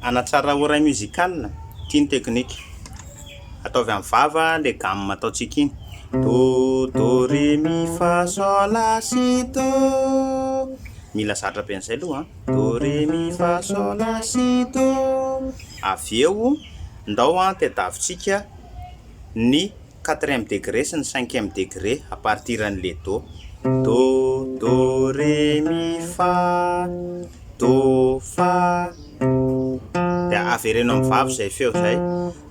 Hanatsara oreille musicale, ity ny technique, ataovy amin'ny vava ilay gamme ataontsika iny, Do, Do, Ré, Mi, Fa, Sol, La, Si, Do, mila zatra be an'izay aloha an, Do, Ré, Mi, Fa, Sol, La, Si, Do, avy eo ndao an tadiavintsika ny quatrième degré sy ny cinquième degré à partir an'le do, do, do, ré, mi, fa, do, fa, dia avereno amin'ny vava izay feo izay,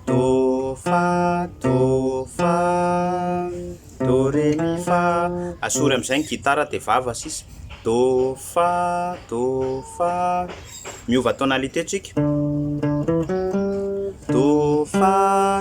do, fa, do, fa, do, ré, mi, fa, asory amin'izay ny gitara dia vava sisa, do, fa, do, fa, miova tonalité tsika, do, fa,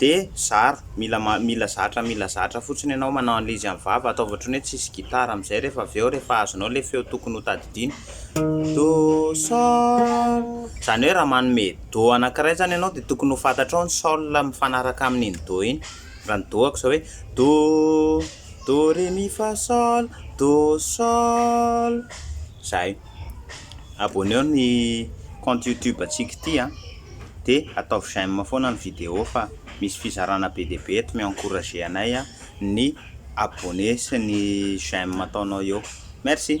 De zara, mila mila zatra mila zatra fotsiny ianao manao an'ilay izy amin'ny vava, ataovy ohatrany hoe tsisy gitara amin'izay rehefa avy eo rehefa azonao ilay feo tokony ho tadidiana. Do, sol, izany hoe raha manome do anankiray izany ianao dia tokony ho fantatrao ny sol mifanaraka amin'iny do iny. Raha ny do-ako izao hoe do, do, re, mi, fa, sol, do, sol. zahay. Abonneo ny compte youtube antsika ity a! dia ataovy j'aime foana ny vidéo fa misy fizarana be dia be eto mi-encourager anay ny abonné sy ny j'aime ataonao eo. Merci.